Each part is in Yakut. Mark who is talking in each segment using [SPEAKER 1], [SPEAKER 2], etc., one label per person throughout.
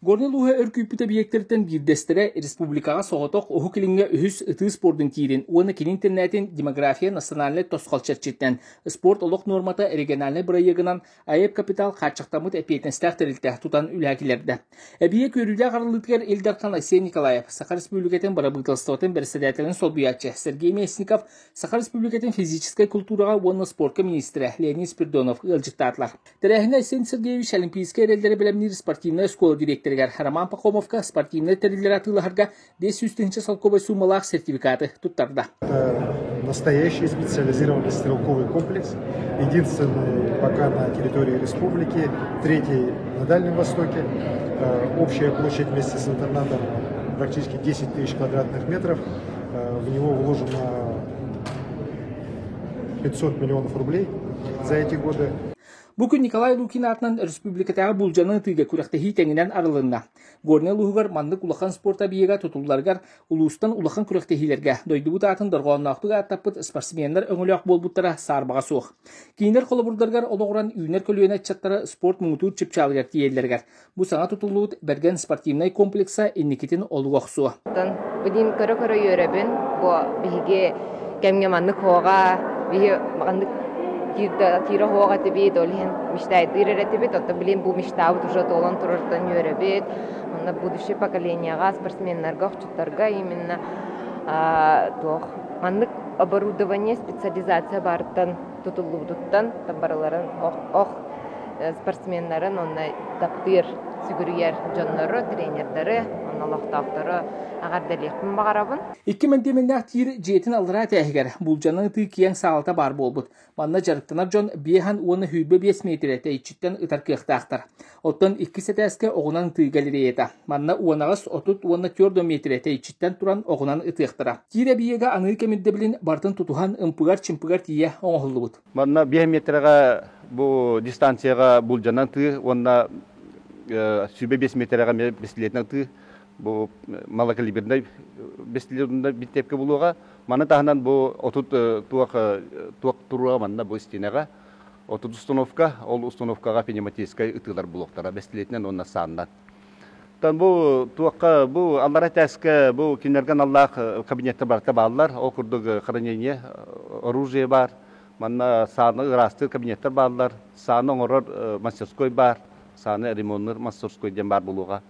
[SPEAKER 1] Горнай улууһа өр күүппүт объектэртэн биирдэстэрэ республикаҕа соҕотох Уһук Илиҥҥэ үһүс ытыы спордун киирин уонна кини интернетин «Демография национальнай тосхол» чэрчитинэн спорт олох нуормата региональнай бырайыагынан АЭП капитал хааччахтаммыт эппиэтинэстээх тэрилтэ тутан үлэһэ киллэрдэ. Эбийиэк үөрүүлээх арыллыытыгар Ил Дархан Айсен Николаев, Саха Республикатын бырабыыталыстыбатын бэрэссэдээтэлин солбуйааччы Сергей Местников, Саха Республикатын физическэй култуураҕа уонна спорка министрэ Леонид Спирдонов ыалдьыттаатылар. Тэрээһиҥҥэ Айсен Сергеевич Олимпийскай эрэллэри бэлэмниир спортивнай оскуола дириэктэригэр Роман Поповка спортивнай тэриллэри атыылаһарга биэс сүүс тыһыынча солкуобай суумалаах сертификаты туттарда.
[SPEAKER 2] Настоящий специализированный стрелковый комплекс. Единственный пока на территории республики, третий на Дальнем Востоке. Общая площадь вместе с интернатом практически 10 тысяч квадратных метров. В него вложено Бу күн Николай
[SPEAKER 1] Лукин аатынан республикатааҕы Буулдьаны ытыыга күрэхтэһии тэҥинэн арылынна. Горнай улууһугар маннык улахан спорт объега тутулларыгар улуустан улахан күрэхтэһиилэргэ дойдубут аатын дорҕоонноохтук ааттаппыт спортсменнар өҥөлөөх буолбуттара саарбаҕа суох. Киинэр холобурдарыгар олоҕуран үүнэр көлүөнэ ыччаттара спорт муҥутуур чыпчаалыгар тиийэллэригэр Бу саҥа тутуллубут Бэргэн спортивнай комплекса инникитин олуга охсуо. Билим көрө-көрө
[SPEAKER 3] үөрэбин, бу биһиги кэмҥэ маннык хоҕа, биһи маннык тиирэ хоҕ этибит, ол иһин мечтайдыыр этибит, оттон билим бу мечтабыт уже толон турартан үөрэбит. Онно будущее поколениеҕа спортсменнарга, охчуттарга именно туох маннык оборудование, специализация бартан тутуллубутуттан барыларын ох спортсменнарын онно таптыыр сүгүрүйэр дьоннору, тренердары, онно олохтоохтору аҕардалиэхпин баҕарабын. Икки мэндиэмэннээх тиир
[SPEAKER 1] дьиэтин аллараа тээһигэр булдьаны ытыы киэҥ саалата баар буолбут. Манна дьарыктанар дьон биэһэн уонна сүүрбэ биэс миэтирэ тэйиччиттэн ытар кыахтаахтар. Оттон иккис этээскэ оҕунан тыыга илирэйэтэ. Манна уонаҕас отут уонна түөрт да миэтирэ тэйиччиттэн туран оҕунан ытыахтара. Киир эбийиэгэ аныы кэмирдэбилин бартын тутуһан ымпыгар-чымпыгар тиийэ оҥоһуллубут. Манна биэс миэтэрэҕэ
[SPEAKER 4] бу дистанцияҕа булдьанан тыы уонна сүбэ биэс миэтэрэҕэ бэстилиэтинэн тыы бу малокалибернай бэстилиэтинай бүтэпкэ булуоҕа. Маны таһынан бу отут туох туох туруоҕа манна бу истиэнэҕэ Отут установка, ол установкаҕа пневматическай ытыылар блоктара бэстилиэтинэн уонна сааннан. бу туохха, бу аллара этээскэ, бу кинилэргэ наллаах кабинетта барыта бааллар. Ол курдук хранение оружие баар, манна сааны ыраастыыр кабинеттар бааллар, сааны оҥорор мастерской баар, сааны ремоннуур мастерской диэн баар буолуоҕа.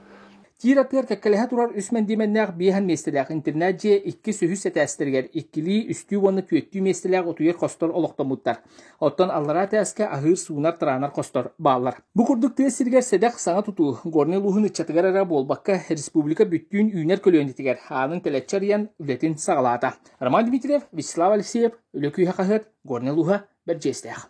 [SPEAKER 4] Тиир атыгар
[SPEAKER 1] кэккэлэһэ турар үс мэндиэмэннээх биэһэн миэстэлээх интернет дьиэ иккис үһүс этээстэригэр иккилии үстүү уонна түөртүү миэстэлээх утуйар хостор олохтоммуттар. Оттон аллараа этээскэ аһыыр суунар тыраанар хостор бааллар. Бу курдук тыа сиригэр сэдэх саҥа тутуу горнай улууһун ыччатыгар эрэ буолбакка, республика бүттүүн үүнэр көлүөнэтигэр аанын тэлэччи арыйан үлэтин саҕалаата. Роман Дмитриев, Вячеслав Алексеев, Үлэ күүһэ хаһыат, Горнай улууһа, Бэрдьиэстээх.